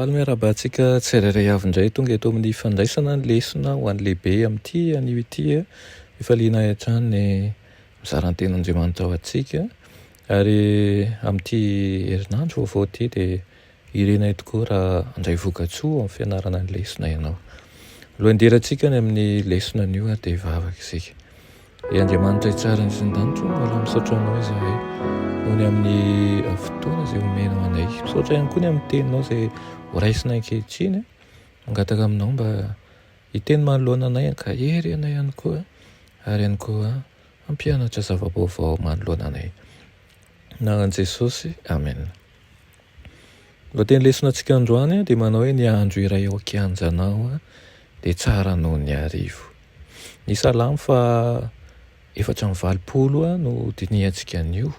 Faly miarahaba antsika tsirairay avy indray tonga eto amin'ny fandraisana ny lesona ho an'ny lehibe amin'ity anio ity eh. Ifaliana hatrany ny mizara ny tenin'Andriamanitra ho antsika ary amin'ity herinandro vaovao ity dia Irenay tokoa raha handray vokatsoa ao amin'ny fianarana ny lesona ianao. Alohan'ny hidirantsika any amin'ny lesona anio ary dia hivavaka isika. Ry Andriamanitra hitsara ny sindanitro, mbola misaotra anao izahay noho ny amin'ny fotoana izay omenao anay. Misaotra ihany koa ny amin'ny teninao izay horaisina ankehitriny. Mangataka aminao mba hiteny manoloana anay, ankahery anay ihany koa ary ihany koa hampianatra zava-baovao manoloana anay. Anaran'i Jesosy, Amen. Ny lohateny lesona antsika androany dia manao hoe ny andro iray ao an-kianjanao dia tsara noho ny arivo. Ny salamo faha efatra amby valopolo no dinihantsika anio,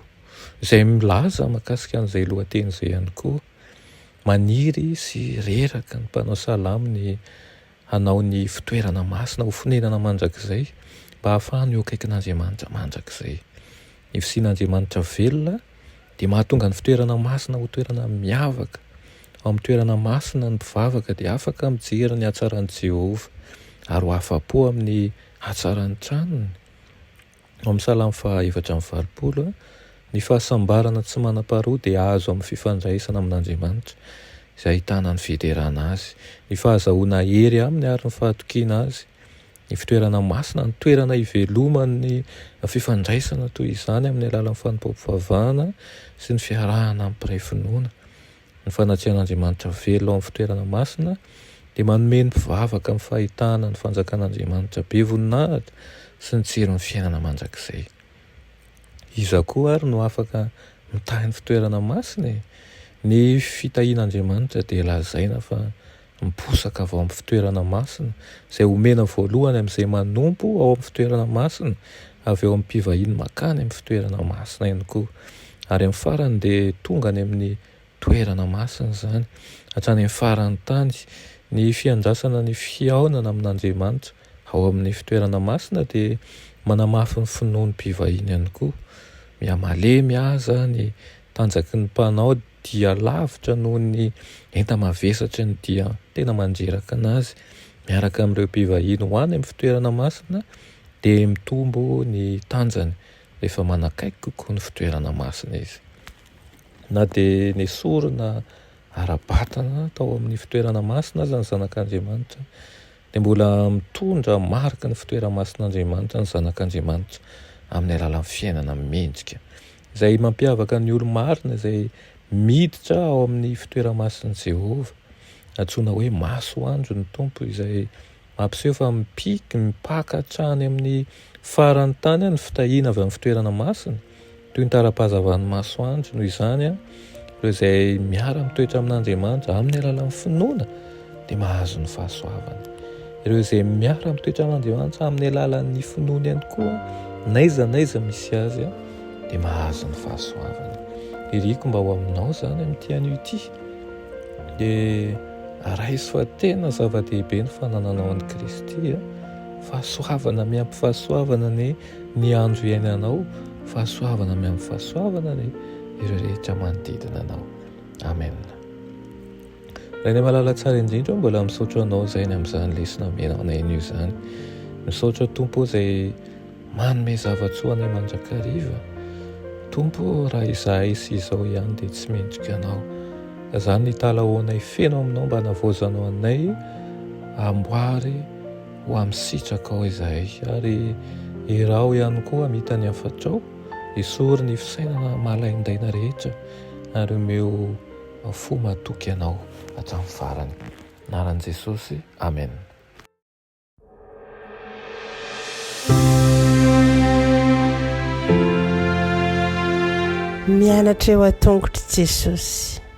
izay milaza mahakasika an'izay lohateny izay ihany koa. Maniry sy reraka ny mpanao salamo ny Hanao ny fitoerana masina ho fonenana mandrakizay mba hahafahany eo akaikin'Andriamanitra mandrakizay. Ny fisian'Andriamanitra velona dia mahatonga ny fitoerana masina ho toerana miavaka. Ao amin'ny toerana masina, ny mpivavaka dia afaka mijery ny hatsaran'i Jehovah ary ho afa-po amin'ny hatsaran'ny tranony. Ao amin'ny Salamo faha efatra amby valopolo, ny fahasambarana tsy manam-paharoa dia azo amin'ny fifandraisana amin'Andriamanitra, izay ahitana ny fiderana Azy, ny fahazahoana hery Aminy ary ny fahatokiana Azy. Ny fitoerana masina, ny toerana iveloman'ny fifandraisana toy izany amin'ny alalan'ny fanompoam-pivavahana sy ny fiarahana amin'ny mpiray finoana. Ny fanatrian'Andriamanitra velona ao amin'ny fitoerana masina dia manome ny mpivavaka ny fahitana ny Fanjakan'Andriamanitra be voninahitra sy ny tsirin'ny fiainana mandrakizay. Iza koa àry no afaka mitahy ny fitoerana masina e? Ny fitahian'Andriamanitra dia lazaina fa miposaka avy ao amin'ny fitoerana masina, izay omena voalohany amin'izay manompo ao amin'ny fitoerana masina, avy ao amin'ny mpivahiny makany amin'ny fitoerana masina ihany koa, ary amin'ny farany dia tonga any amin'ny toerana masina izany, hatrany amin'ny faran'ny tany. Ny fiandrasana ny fihaonana amin'Andriamanitra ao amin'ny fitoerana masina dia manamafy ny finoan'ny mpivahiny ihany koa, mihamalemy aza ny Tanjaky ny mpanao dia lavitra noho ny enta-mavesatry ny dia tena mandreraka anazy miaraka amin'ireo mpivahiny ho any amin'ny fitoerana masina dia mitombo ny tanjany rehefa manakaiky kokoa ny fitoerana masina izy. Na dia nesorina ara-batana tao amin'ny fitoerana masina aza ny zanak'Andriamanitra dia mbola mitondra mariky ny fitoera-masin'Andriamanitra ny zanak'Andriamanitra amin'ny alalan'ny fiainana mendrika Izay mampiavaka ny olo-marina izay miditra ao amin'ny fitoera-mason'i Jehovah, antsoina hoe masoandro ny Tompo, izay mampiseho fa mipika, mipaka hatrany amin'ny faran'ny tany ny fitahiana avy amin'ny fitoerana masina, toy ny tara-pahazavan'ny masoandro. Noho izany, Ireo izay miara-mitoetra amin'Andriamanitra amin'ny alalan'ny finoana dia mahazo ny fahasoavana. Ireo izay miara-mitoetra amin'Andriamanitra amin'ny alalan'ny finoana ihany koa, naiza naiza misy azy, dia mahazo ny fahasoavana. Iriko mba ho aminao izany amin'ity anio ity. Dia raiso fa tena zava-dehibe ny fanananao an'i Kristy. Fahasoavana miampy fahasoavana ny Ny andro iainanao fahasoavana amy amin'ny fahasoavana ny ireo rehetra manodidina anao. Amen. Rainay malala tsara indrindra, mbola misaotra anao izay ny amin'izany lesona menao anay anio izany. Misaotra Tompo izay manome zavatsoa anay mandrakariva. Tompo, raha izahay sy izao ihany dia tsy mendrika anao. Izany ny talahoanay feno aminao mba navaozanao anay amboary Ho amin'ny sitrakao izahay, ary iraho ihany koa hamita ny hafatrao, esory ny fisainana mahalaindaina rehetra, ary omeo fo matoky Anao hatramin'ny farany. Anaran'i Jesosy, Amen. Mianatra eo an-tongotr'i Jesosy.